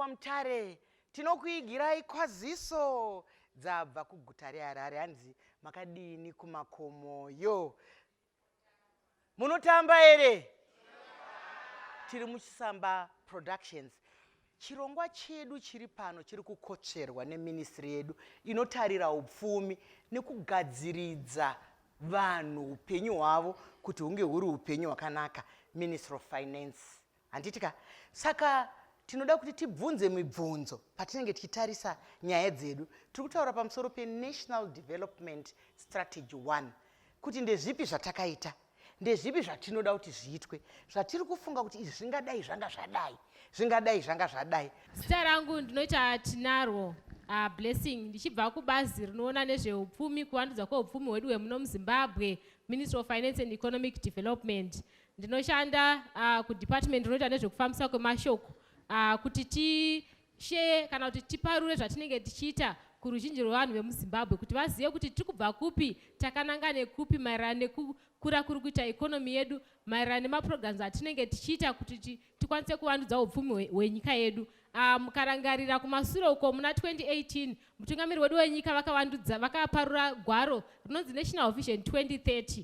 mutare tinokuigirai kwaziso dzabva kuguta reharare hanzi makadini kumakomoyo munotamba here tiri muchisamba productions chirongwa chedu chiri pano chiri kukotsverwa neministry yedu inotarira upfumi nekugadziridza vanhu upenyu hwavo kuti hunge huri upenyu hwakanaka ministry of finance handiti ka saka tinoda kuti tibvunze mibvunzo patinenge tichitarisa nyaya dzedu tiri kutaura pamusoro penational development strategy one kuti ndezvipi zvatakaita ndezvipi zvatinoda kuti zviitwe zvatiri kufunga kuti izvi zvingadai zvanga zvadai zvingadai zvanga zvadai zita rangu ndinoita tinarwo uh, blessing ndichibva kubazi rinoona nezveupfumi kuvandudzwa kweupfumi hwedu hwemuno muzimbabwe ministry of finance and economic development Ndinoshanda uh, kudepartment rinoita nezvekufambisa kwemashoko uh, kuti tisheye kana kuti tiparure zvatinenge tichiita kuruzhinji rwevanhu vemuzimbabwe kuti vazive kuti tiri kubva kupi takananga nekupi maererano nekukura kuri kuita ekonomi yedu maererano nemaprograms atinenge tichiita kuti tikwanise kuvandudza upfumi hwenyika yedu ah, mukarangarira kumasure uko muna 2018 mutungamiri wedu wenyika vakavandudza vakaparura gwaro rinonzi national vision 2030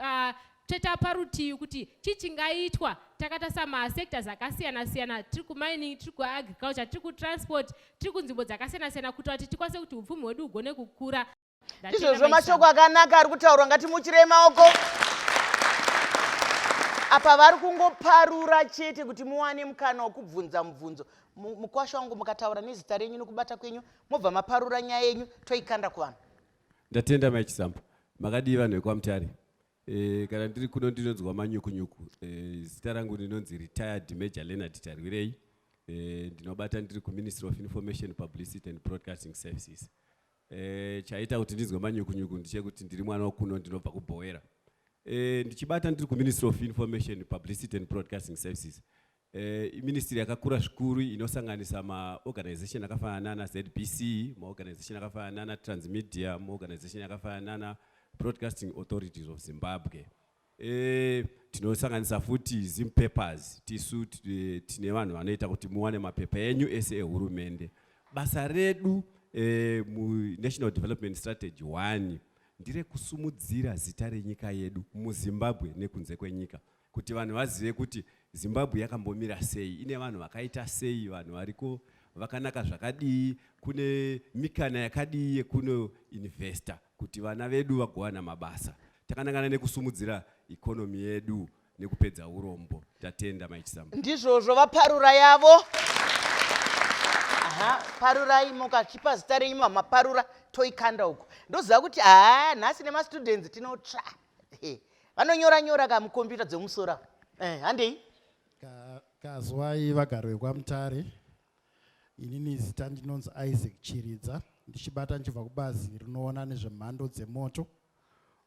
uh, toita parutivi kuti chii chingaitwa takatarisa masectors akasiyana siyana tiri kumining tiri kuagriculture tiri kutransport tiri kunzvimbo dzakasiyana siyana kuitira kuti tikwanise kuti upfumi hwedu hugone kukura izvozvo mashoko akanaka ari kutaurwa ngatimuchirei maoko apa vari kungoparura chete kuti muwane mukana wekubvunza mubvunzo mukwasha wangu mukataura nezita renyu nekubata kwenyu mobva maparura nyaya yenyu toikanda kuvanhu ndatenda mai chisamba makadii vanhu vekwamutare e, kana ndiri kuno ndinonzwa manyukunyuku e, zita rangu ndinonzi retired major leonard tarwirei e, ndinobata ndiri kuministry of information publicity and broadcasting services e, chaita kuti ndinzwe manyukunyuku ndichekuti ndiri mwana wakuno ndinobva kubhowera e, ndichibata ndiri kuministry of information publicity and broadcasting services Eh, iministry yakakura zvikuru inosanganisa maorganization akafanana nana zbc maorganization akafanana nana transmedia maorganization akafanana nana broadcasting authorities of zimbabwe e, tinosanganisa futi zim papers tisu eh, tine vanhu vanoita kuti muwane mapepa enyu ese ehurumende basa redu e, munational development strategy 1 ndire kusumudzira zita renyika yedu muzimbabwe nekunze kwenyika kuti vanhu vazive kuti zimbabwe yakambomira sei ine vanhu vakaita sei vanhu variko vakanaka zvakadii kune mikana yakadii yekuno investa kuti vana vedu vagowana mabasa takanangana nekusumudzira ikonomi yedu nekupedza urombo tatenda maichisamba ndizvozvo vaparura yavo aha parurai mukachipa zita renyu mamaparura toikanda uko ndoziva kuti haa nhasi nemastudents tinotsva vanonyora nyora ka mukombiyuta dzemumusoro avo eh, handei kazwai vagari vekwamutare inini zita ndinonzi isaac chiridza ndichibata ndichibva kubazi rinoona nezvemhando dzemoto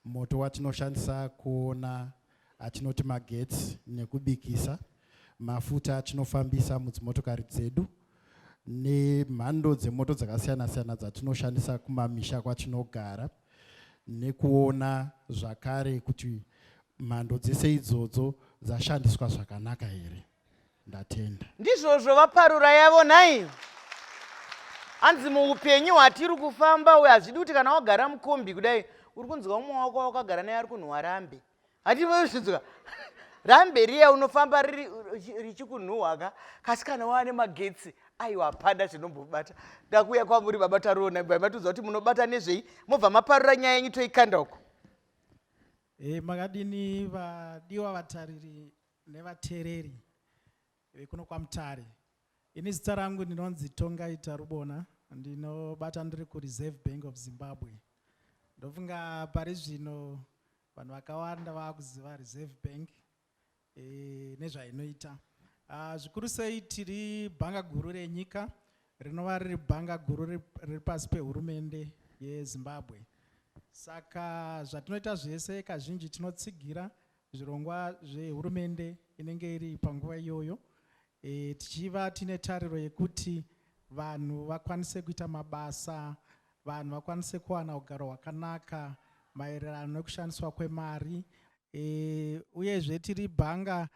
moto watinoshandisa kuona atinoti magetsi nekubikisa mafuta atinofambisa mudzimotokari dzedu nemhando dzemoto dzakasiyana siyana dzatinoshandisa kumamisha kwatinogara nekuona zvakare kuti mhando dzese idzodzo dzashandiswa zvakanaka here ndatenda ndizvozvo vaparura yavo nhai hanzi muupenyu hwatiri kufamba uyo hazvidi kuti kana wagara mukombi kudai uri kunzwa umwe wako wakagara naye ari kunhuwarambe hativoyozvinzwa ramberiya unofamba richikunhuhwaka kasi kana waane magetsi aiwa hapana zvinombobata ndakuuya kwamuri baba tarona bva matiudza kuti munobata nezvei mobva maparura nyaya yenyu toikanda uko e, makadini vadiwa vatariri nevatereri Vekuno kwaMutare. Ini zita rangu ndinonzi Tongai Tarubona, ndinobata ndiri kuReserve Bank of Zimbabwe. Ndofunga pari zvino vanhu vakawanda vakuziva Reserve Bank e, nezvainoita. Uh, zvikuru sei tiri bhanga guru renyika rinova riri bhanga guru riri pasi pehurumende yezimbabwe saka zvatinoita zvese kazhinji tinotsigira zvirongwa zvehurumende inenge iri panguva iyoyo e, tichiva tine tariro yekuti vanhu vakwanise kuita mabasa vanhu vakwanise kuwana ugaro hwakanaka maererano nekushandiswa kwemari e, uyezve tiri bhanga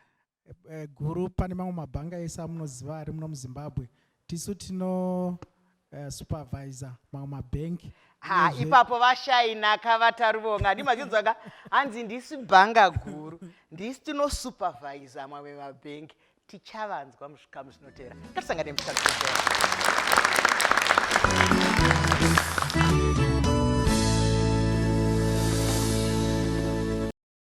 Eh, guru pane mamwe mabhanga ese amunoziva ari muno muzimbabwe tisu tino uh, supervisor mamwe mabhenki ha ipapo vashainaka vataruvonga ndi machinzwaka hanzi ndisi bhanga guru ndisi tino supervisor mamwe mabhenki tichavanzwa muzvikamu zvinotera ngatisangane muchikamu zvinotera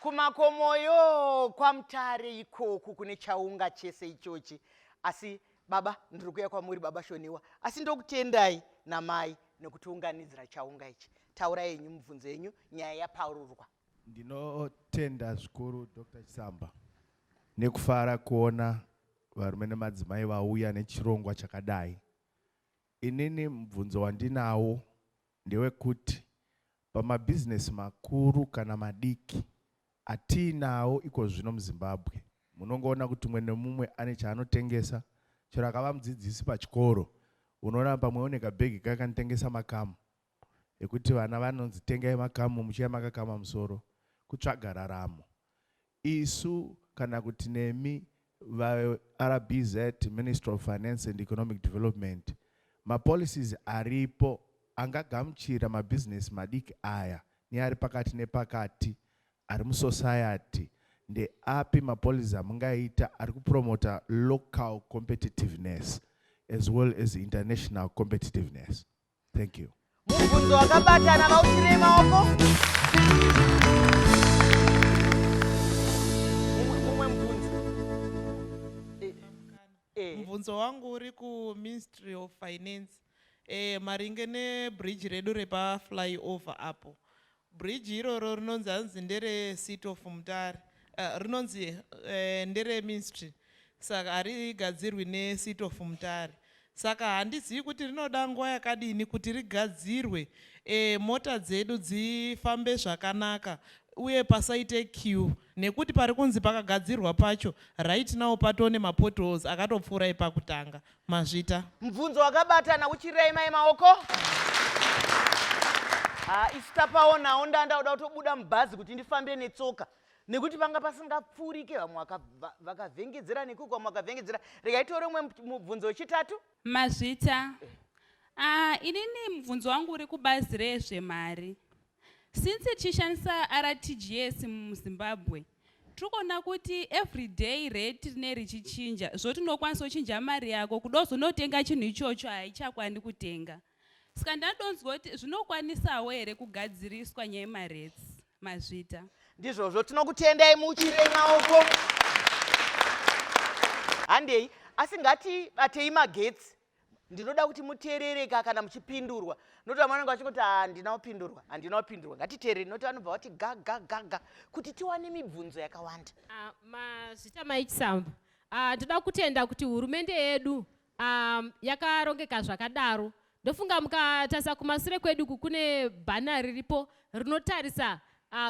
Kumakomoyo kwaMutare ikoku kune chaunga chese ichochi. Asi baba ndiri kuya kwamuri baba Shoniwa. Asi ndokutendai namai nekutiunganidzira chaunga ichi. Taura yenyu mubvunzo yenyu nyaya yaparurwa. Ndinotenda zvikuru Dr. Chisamba nekufara kuona varume nemadzimai vauya nechirongwa chakadai. Inini mubvunzo wandinawo ndewekuti pamabhizinesi makuru kana madiki atiinawo iko zvino muZimbabwe, munongoona kuti umwe nemumwe ane chaanotengesa. Chero akava mudzidzisi pachikoro, unoona pamwe une kabhegi kake kanotengesa makamu ekuti vana vanonzi tengai makamu muchiuya makakama musoro kutsvaga raramo. Isu kana kuti nemi vaRBZ, Ministry of Finance and Economic Development, mapolicies aripo angagamuchira mabhizinesi madiki aya neari pakati nepakati ari musociety ndeapi mapolicies amungaita ari kupromota local competitiveness as well as international competitiveness? thank you mubvunzo wakabatana vautirei maoko mumwe mubvunzo eh, eh. mubvunzo wangu uri kuministry of finance eh, maringe nebridge redu repaflyover apo Bridge iroro rinonzi hanzi ndere seat of mutare uh, rinonzi uh, ndere ministry saka harigadzirwi ne seat of mutare saka handizivi kuti rinoda nguva yakadini kuti rigadzirwe e, mota dzedu dzifambe zvakanaka uye pasaite q nekuti pari kunzi pakagadzirwa pacho right now patone mapotholes akatopfuura epakutanga Mazvita. Mubvunzo wakabatana uchirema yemaoko. Ha, isu tapaonawo ndandaoda kutobuda mubhazi kuti ndifambe netsoka nekuti vanga pasingapfuurike vamwe vakavhengedzera nekuko vamwe vakavhengedzera rega itore umwe mubvunzo wechitatu mazvita ah, inini mubvunzo wangu uri kubazi rezvemari Since tichishandisa RTGS muZimbabwe, tiri kuona kuti everyday rate rine richichinja zvoti unokwanisa kuchinja mari yako kuda kuzonotenga chinhu ichocho haichakwani kutenga saka ndadonzwa kuti zvinokwanisawo here kugadziriswa nyaya yemarates mazvita ndizvozvo tinokutendai muchire maoko handei asi ngatibatei magetsi ndinoda kuti muteerereka kana muchipindurwa nokuti vamwe vanenge vachingoti handina kupindurwa handina kupindurwa ngatiteerere nokuti vanobva vati gagagaga kuti tiwane mibvunzo yakawanda ah, mazita maichisamba ah, ndoda kutenda kuti hurumende yedu ah, yakarongeka zvakadaro ndofunga mukatarisa kumasure kwedu ku kune bhana riripo rinotarisa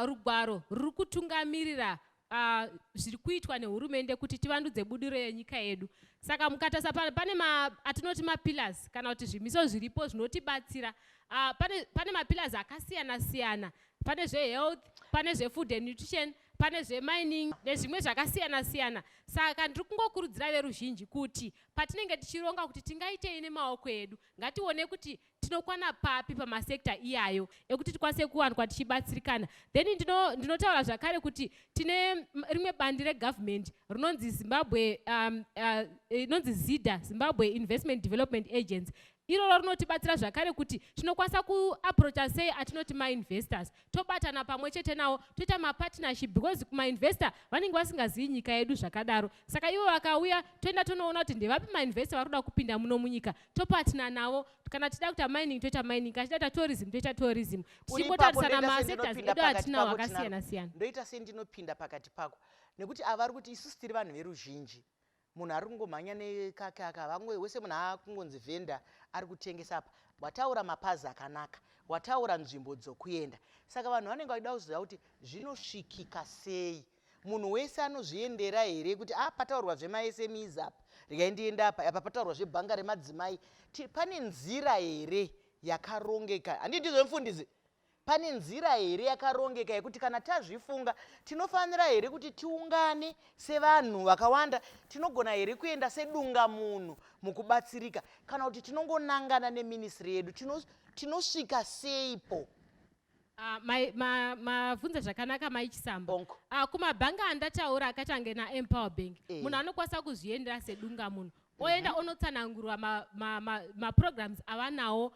rugwaro ruri kutungamirira Uh, zviri kuitwa nehurumende kuti tivandudze budiro yenyika yedu saka mukatasa pane ma, atinoti mapillars kana kuti zvimiso zviripo zvinotibatsira uh, pane, pane mapillars akasiyana siyana pane zvehealth pane zvefood and nutrition pane zvemining nezvimwe zvakasiyana siyana saka ndiri kungokurudzira veruzhinji kuti patinenge tichironga kuti tingaitei nemaoko edu ngatione kuti tinokwana papi pamasector iyayo ekuti tikwanise kuwanikwa tichibatsirikana then ndinotaura ndino zvakare kuti tine rimwe bandi regovernment rinonzi zimbabwe um, uh, inonzi zida zimbabwe investment development agency iroro rinotibatsira zvakare kuti tinokwanisa kuaproacha sei atinoti mainvestors tobatana pamwe chete nawo toita mapartnership because kumainvestor vanenge vasingazivi nyika yedu zvakadaro saka ivo vakauya toenda tonoona kuti ndevapi mainvestor vari kuda kupinda muno munyika topatna navo kana tichida kuita mining toita mining kana tichida kuita tourism toita tourism tichingotarisana masetas edu atinawo akasiyana siyana ndoita sei ndinopinda pakati pako nekuti avari kuti isusu tiri vanhu veruzhinji munhu ari kungomhanya nekake aka vamwe wese munhu akungonzi vhenda ari kutengesa apa wataura mapazi akanaka wataura nzvimbo dzokuenda saka vanhu vanenge vachida kuziva kuti zvinosvikika sei Munhu wese anozviendera here kuti ah pataurwa zvemaSMEs apa regai ndiende apa apa pataurwa zvebhanga remadzimai pane nzira here yakarongeka handii ndizvo mfundisi pane nzira here yakarongeka yekuti kana tazvifunga tinofanira here kuti tiungane sevanhu vakawanda tinogona here kuenda sedunga munhu mukubatsirika kana kuti tinongonangana neminisiri yedu tinosvika seipo Ah, mavhunza zvakanaka mai chisambo ah, kumabhangi andataura akati ange naempower bank eh. munhu anokwanisa kuzviendera sedunga munhu mhm. oenda onotsanangurwa maprograms avanawo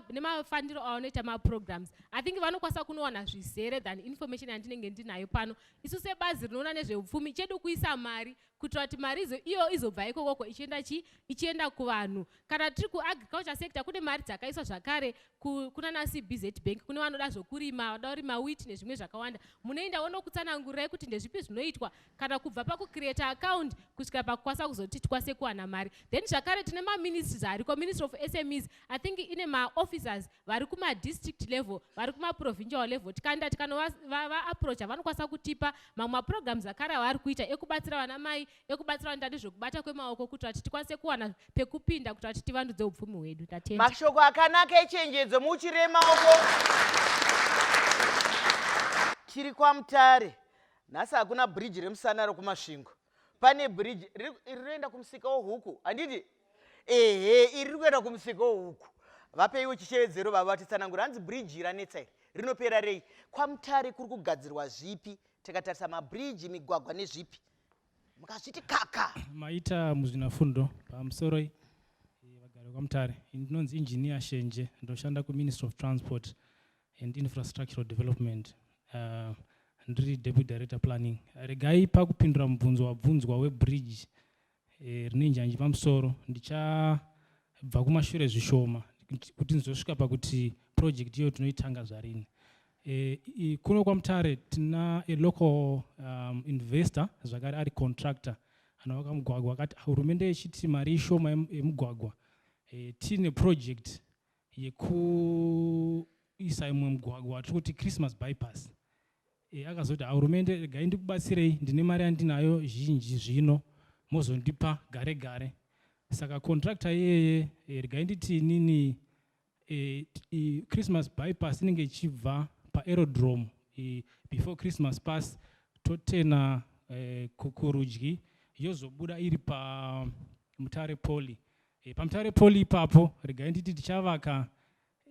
nemafandiro avanoita maprograms i think vanokwanisa kunowana zvizere than information yandinenge ndinayo pano isu sebazi rinoona nezveupfumi chedu kuisa mari kuitira kuti mari iyo izobva ikokoko ichienda chii ichienda kuvanhu kana tiri kuagriculture sector kune mari dzakaiswa zvakare kunana cbz bank kune vanoda zvokurima vanoda kurima wit nezvimwe zvakawanda munoenda wonokutsanangurai kuti ndezvipi zvinoitwa kana kubva pakucreata account kusvika pakukwanisa kuzoti tikwanise kuwana mari then zvakare tine maministries ariko ministry of smes i think ine maofficers vari kumadistrict level vari kumaprovincial level tikaenda tikanovaapproacha vanokwanisa kutipa mamwe maprograms akare avari kuita ekubatsira vana mai ekubatsira vanoita nezvekubata kwemaoko kuti vati tikwanise kuwana pekupinda kuti vati tivandudze upfumi hwedu tatenda mashoko akanaka echenjedzo muchire maoko chiri kwamutare nhasi hakuna bridge remusana rokumasvingo pane bridge iri rinoenda kumusika wohuku handiti ehe iri riri kuenda kumusika wohuku vapeiwo chishevedzero vava vatitsanangura hanzi bridge ranetsa iri rinopera rei kwamutare kuri kugadzirwa zvipi tikatarisa mabridge migwagwa nezvipi mukazviti kaka maita muzvinafundo pamusoro eh, vagari kwamutare ndinonzi engineer shenje ndoshanda kuministry of transport and infrastructural development uh, ndiri deputy director planning regai pakupindura mubvunzo wabvunzwa webridge eh, rine njanji pamusoro ndichabva kumashure zvishoma kuti ndizosvika pakuti project iyoyo tinoitanga zvarini eh, kuno kwamutare tina a local um, investor zvakare ari contractor anovaka mugwagwa akati hurumende yechiti mari ishoma yemugwagwa eh, tiine project yekuisa imwe mugwagwa watiri kuti christmas bypass e, akazoti hurumende regai ndikubatsirei ndine mari yandinayo zhinji zvino mozondipa gare gare saka contractor iyeye e, regai nditi nini e, e, christmas bypass inenge ichibva paaerodrome e, before christmas pass totena e, kurudyi yozobuda iri pamutare poli E, paMutare Poly ipapo regai nditi tichavaka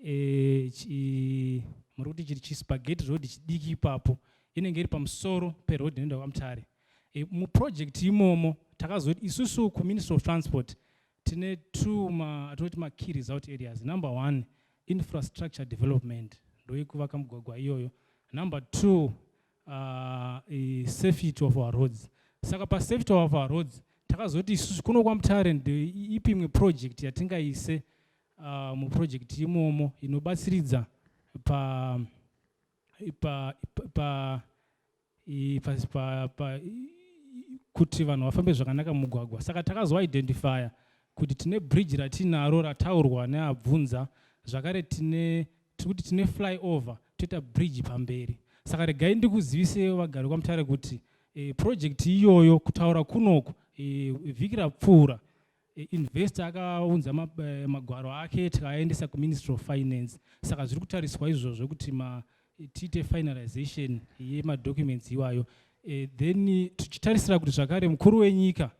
e, chi, muri kuti chiri chispageti road chidiki ipapo inenge iri pamusoro peroad inoenda kwaMutare. E, muproject imomo takazoti isusu kuministry of transport tine two atinoti makey result areas number one infrastructure development ndoyekuvaka mugwagwa iyoyo number two uh, safety of our roads saka pasafety of our roads takazoti isusu kuno kwamutare ipi imwe project yatingaise uh, muproject imomo inobatsiridza pa pa pa pa pa kuti vanhu vafambe zvakanaka mumugwagwa saka takazoidentifya kuti tine bridge ratinaro rataurwa neabvunza zvakare tine tiri kuti tine fly over toita bridge pamberi saka regai ndikuziviseyo vagari kwamutare kuti e, project iyoyo kutaura kunoku e, vhiki rapfuura e, investor akaunza ma, e, magwaro ake tikaaendesa kuministry of finance saka zviri kutariswa izvozvo kuti ma, e, tiite finalization yemadocuments iwayo e, then tichitarisira kuti zvakare mukuru wenyika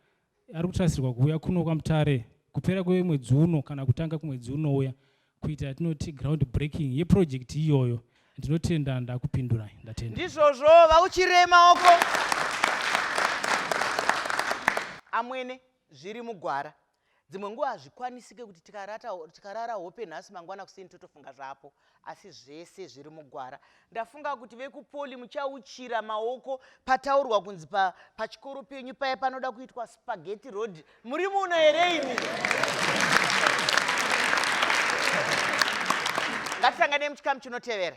ari kutarisirwa kuuya kuno kwamutare kupera kwemwedzi uno kana kutanga kumwedzi unouya kuita yatinoti ground breaking yeprojekti iyoyo ndinotenda ndakupindurai ndatenda ndizvozvo vauchirei maoko amwene zviri mugwara dzimwe nguva hazvikwanisike kuti tikarara hope nhasi mangwana kuseni totofunga zvapo Asi zvese zviri mugwara. Ndafunga kuti vekupoli muchauchira maoko pataurwa kunzi pa, pachikoro penyu paya panoda kuitwa spaghetti road. Muri muno here imi? Ngatisanganei muchikamu chinotevera.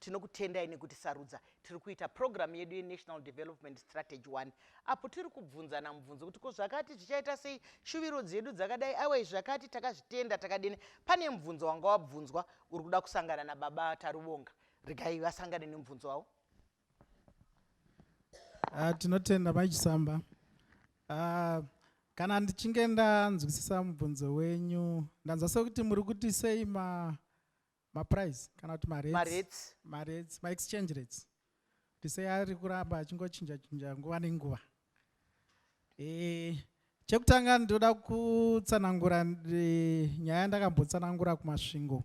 Tinokutendai nekutisarudza. Tiri kuita purogiramu yedu yeNational Development Strategy One apo tiri kubvunzana mubvunzo kuti ko zvakati zvichaita sei, shuviro dzedu dzakadai aiwa izvi zvakati takazvitenda takadini. Pane mubvunzo wanga wabvunzwa uri kuda kusangana naBaba Taruvonga. Regai vasangane nemubvunzo wavo. Uh, tinotenda Mai Chisamba. Uh, kana ndichinge ndanzwisisa mubvunzo wenyu ndanzwa sekuti muri kuti sei ma maprice kana kuti marates marates maexchange rates ndise ari kuramba achingochinja chinja nguva nenguva e, chekutanga ndoda kutsanangura e, nyaya yandakambotsanangura kumasvingo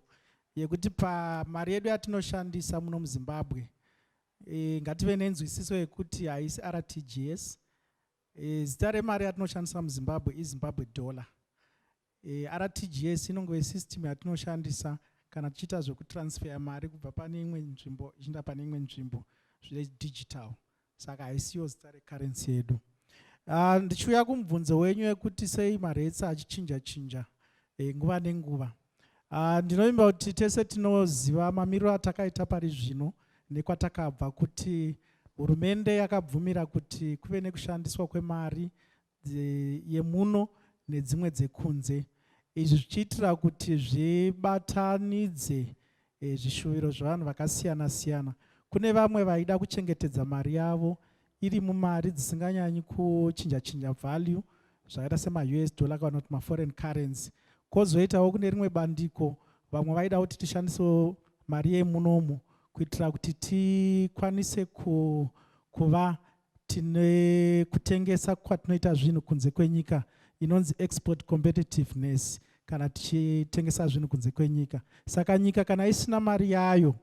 yekuti pamari yedu yatinoshandisa muno muzimbabwe e, ngative nenzwisiso yekuti haisi rtgs e, zita remari yatinoshandisa muzimbabwe izimbabwe dollar E, eh, RTGS inongove system yatinoshandisa kana tichiita zvekutransfeya mari kubva pane imwe nzvimbo ichiinda pane imwe nzvimbo zvine digital saka haisiyo zita recurrency yedu uh, ndichiuya kumubvunzo wenyu yekuti sei marates achichinja chinja e, nguva nenguva uh, ndinovimba kuti tese tinoziva mamiriro atakaita pari zvino nekwatakabva kuti hurumende yakabvumira kuti kuve nekushandiswa kwemari yemuno nedzimwe dzekunze izvi zvichiitira kuti zvibatanidze eh, zvishuviro zvevanhu vakasiyana siyana kune vamwe vaida kuchengetedza mari yavo iri mumari dzisinganyanyi kuchinja chinja value zvakaita semaus dollar kana kuti maforeign currency kozoitawo kune rimwe bandiko vamwe vaida kuti tishandisewo mari yemunomu kuitira kuti tikwanise kuva tine kutengesa kwatinoita zvinhu kunze kwenyika inonzi export competitiveness kana tichitengesa zvinhu kunze kwenyika saka nyika kana isina mari yayo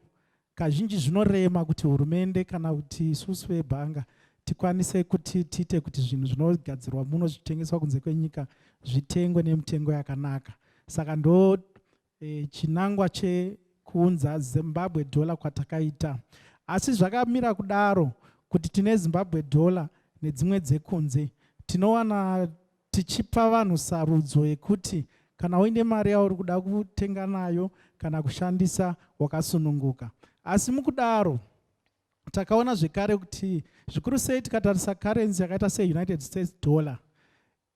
kazhinji zvinorema kuti hurumende kana kuti isusu vebhanga tikwanise kuti tiite kuti zvinhu zvinogadzirwa muno zvichitengeswa kunze kwenyika zvitengwe nemitengo yakanaka saka ndo E, chinangwa chekuunza Zimbabwe dollar kwatakaita asi zvakamira kudaro kuti tine Zimbabwe dollar nedzimwe dzekunze tinowana tichipa vanhu sarudzo yekuti kana uine mari yauri kuda kutenga nayo kana kushandisa wakasununguka asi mukudaro takaona zvekare kuti zvikuru sei tikatarisa currency yakaita seunited states dollar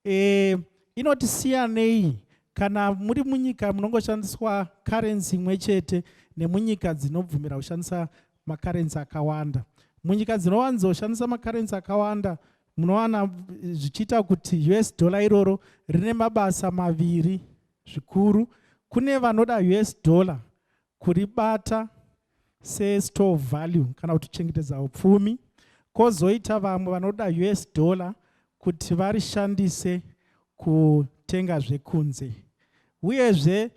Eh, inoti siyanei kana muri munyika munongoshandiswa currency imwe chete nemunyika dzinobvumira kushandisa macurrency akawanda munyika dzinowanzoshandisa macurrency akawanda munowana zvichiita kuti us dollar iroro rine mabasa maviri zvikuru kune vanoda us dollar kuribata sestore of value kana kuti kuchengetedza upfumi kozoita vamwe vanoda us dollar kuti varishandise kutenga zvekunze uyezve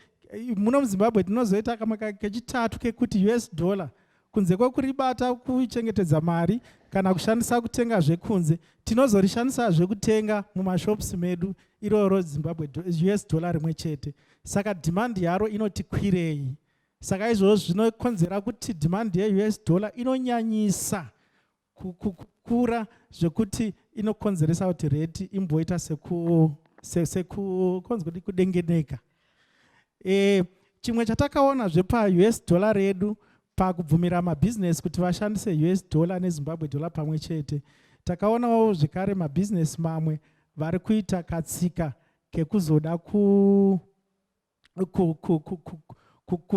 muno muzimbabwe tinozoita kamwe kechitatu kekuti us dollar Kunze kwekuribata kuchengetedza mari kana kushandisa kutenga zvekunze, tinozorishandisazve kutenga mumashops medu iroro Zimbabwe US dollar rimwe chete. Saka demand yaro inoti kwirei. Saka izvozvo zvinokonzera kuti demand yeUS dollar inonyanyisa kukura zvekuti inokonzeresa kuti reti imboita sekunzi kuti kudengeneka e, chimwe chatakaona zvepaus dollar redu pakubvumira mabhizinesi kuti vashandise us dollar nezimbabwe dollar pamwe chete takaonawo zvekare mabhizinesi mamwe vari kuita katsika kekuzoda ku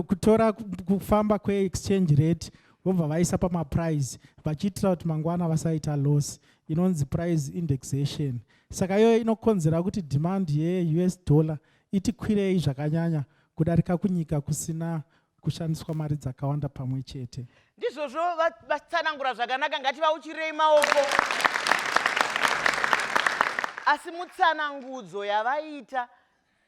kutora kufamba kweexchange rate vobva vaisa pamaprice vachiitira kuti mangwana vasaita loss inonzi price indexation saka iyoyo inokonzera kuti demand yeus dollar itikwirei zvakanyanya kudarika kunyika kusina kushandiswa mari dzakawanda pamwe chete ndizvozvo vatsanangura zvakanaka ngativauchirei maoko asi mutsanangudzo yavaita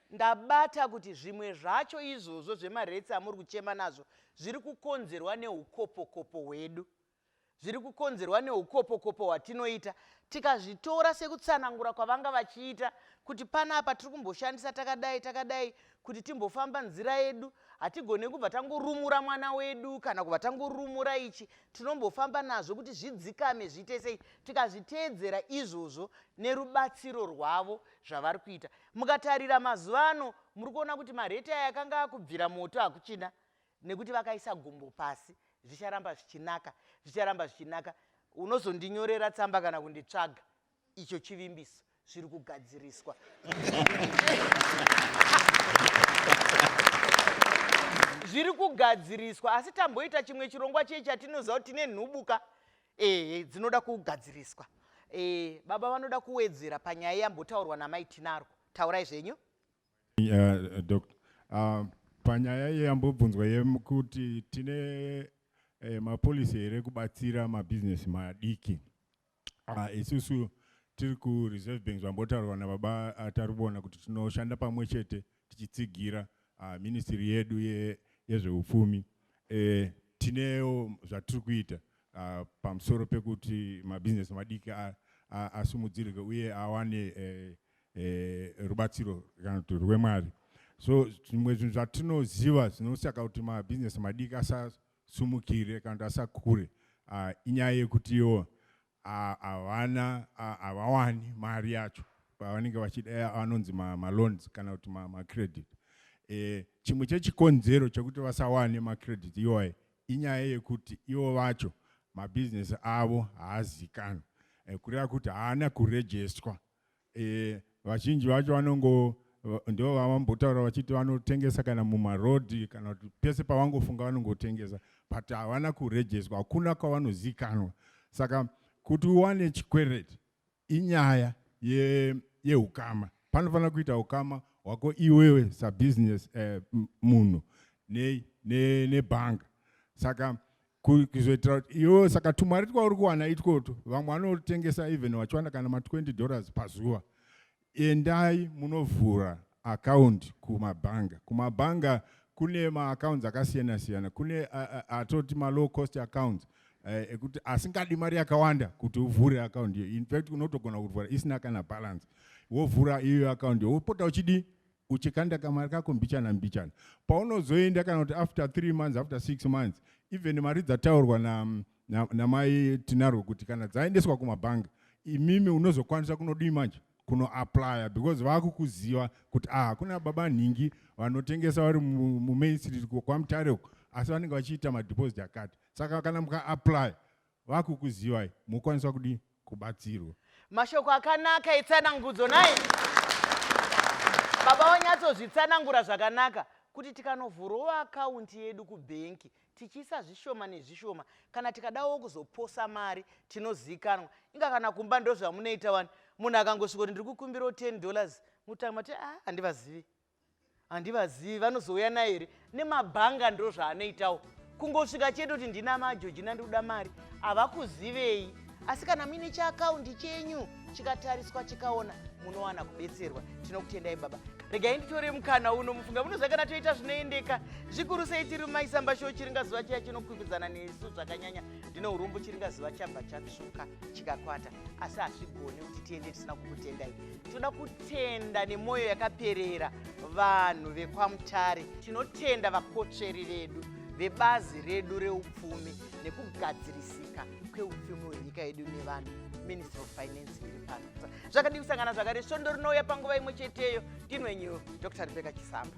Ndabata kuti zvimwe zvacho izvozvo zvemaretsi amuri kuchema nazvo zviri kukonzerwa neukopokopo hwedu. Zviri kukonzerwa neukopokopo hwatinoita. Tikazvitora sekutsanangura kwavanga vachiita kuti panapa tiri kumboshandisa takadai takadai kuti timbofamba nzira yedu. Hatigone kubva tangorumura mwana wedu kana kubva tangorumura ichi. Tinombofamba nazvo kuti zvidzikame zviite sei. Tikazviteedzera izvozvo nerubatsiro rwavo zvavari kuita. Mukatarira mazuva ano muri kuona kuti marate aya akanga akubvira moto hakuchina nekuti vakaisa gumbo pasi zvicharamba zvichinaka zvicharamba zvichinaka unozondinyorera tsamba kana kunditsvaga icho chivimbiso zviri kugadziriswa zviri kugadziriswa asi tamboita chimwe chirongwa chei chatinoziva kuti tine nhubuka ehe dzinoda kugadziriswa e, baba vanoda kuwedzera panyaya yambotaurwa namai tinaro taurai zvenyu uh, doctor uh, panyaya yambobvunzwa yekuti tine eh, mapolisi here kubatsira mabusiness madiki uh, isusu tiri kureserve banks vambotaurwa nababa uh, tari kuona kuti tinoshanda pamwe chete tichitsigira uh, ministry yedu ye, yezveupfumi eh, tinewo zvatiri kuita uh, pamusoro pekuti mabhizinesi madiki asimudzirike uh, uh, uye awane eh, eh, rubatsiro kana kuti rwemwari so zvimwe zvinhu zvatinoziva zvinosaka kuti mabhizinesi madiki asasumukire kana kuti asakure uh, inyaya yekutiwo havana havawani mari yacho pavanenge vachida vanonzi maloans kana kuti macredit e, chimwe chechikonzero chekuti vasawane macredit iwaye inyaya yekuti ivo vacho mabhizinesi avo haazikanwa e, kureva kuti haana kurejestwa Eh, vazhinji vacho vanongo ndo vavambotaura vachiti vanotengesa kana mumarodhi kana kuti pese pavangofunga vanongotengesa but havana kurejeswa hakuna kwavanozikanwa saka kuti uwane chikwereti inyaya yeukama ye panofanira kuita ukama hwako iwewe sabusiness eh, munhu nebhanga ne, ne saka kuzoitira kuti iwe saka tumari twauri kuwana itwoto vamwe vanotengesa even vachiwana kana ma20 dollars pazuva endai munovhura akaundi kumabhanga kumabhanga kune maaccounts akasiyana siyana kune atoti malow cost accounts eh, ekuti asingadi mari yakawanda kuti uvhure akaundi iyo infact unotogona kuvhura isina kana balance wovhura iyo akaundi wopota uchidii uchikanda kamari kako mbichana mbichana paunozoenda kana kuti after three months after six months even mari dzataurwa namai na, na, na tinarwo kuti kana dzaendeswa kumabhanga imimi unozokwanisa kunodii manje kunoaplya because vakukuziva kuti ah, hakuna baba nhingi vanotengesa vari mumain street kwamutare uko asi vanenge vachiita madeposit akati saka kana mukaaplya vakukuzivai mokwanisa kudii kubatsirwa mashoko akanaka etsanangudzo nai baba wanyatsozvitsanangura zvakanaka kuti tikanovhurawo akaunti yedu kubhenki tichiisa zvishoma nezvishoma kana tikadawo kuzoposa mari tinozivikanwa inga kana kumba ndozvamunoita wani munhu akangosvika kuti ndiri kukumbirawo 10 dollars mutanga mati a ah, handivazivi handivazivi vanozouya naye here nemabhanga ndo zvaanoitawo kungosvika chete kuti ndina majojina ndikuda mari havakuzivei asi kana muine chiakaundi chenyu chikatariswa chikaona munowana kubetserwa tinokutendai baba regai nditore mukana uno mufunga munoziva kana toita zvinoendeka zvikuru sei tiri mumaisamba sho chiringazuva chiya chinokwikwidzana nesu zvakanyanya ndine urombo chiringazuva chabva chatsvuka chikakwata asi hazvigone kuti tiende tisina kukutendai Toda kutenda nemoyo yakaperera vanhu vekwaMutare. Tinotenda vakotsveri vedu vebazi redu reupfumi nekugadzirisika kweupfumi hwenyika yedu nevanhu ministry of finance iri pano zvakadii kusangana zvakare svondo rinouya panguva imwe cheteyo ndinwenyu dr rebeka chisamba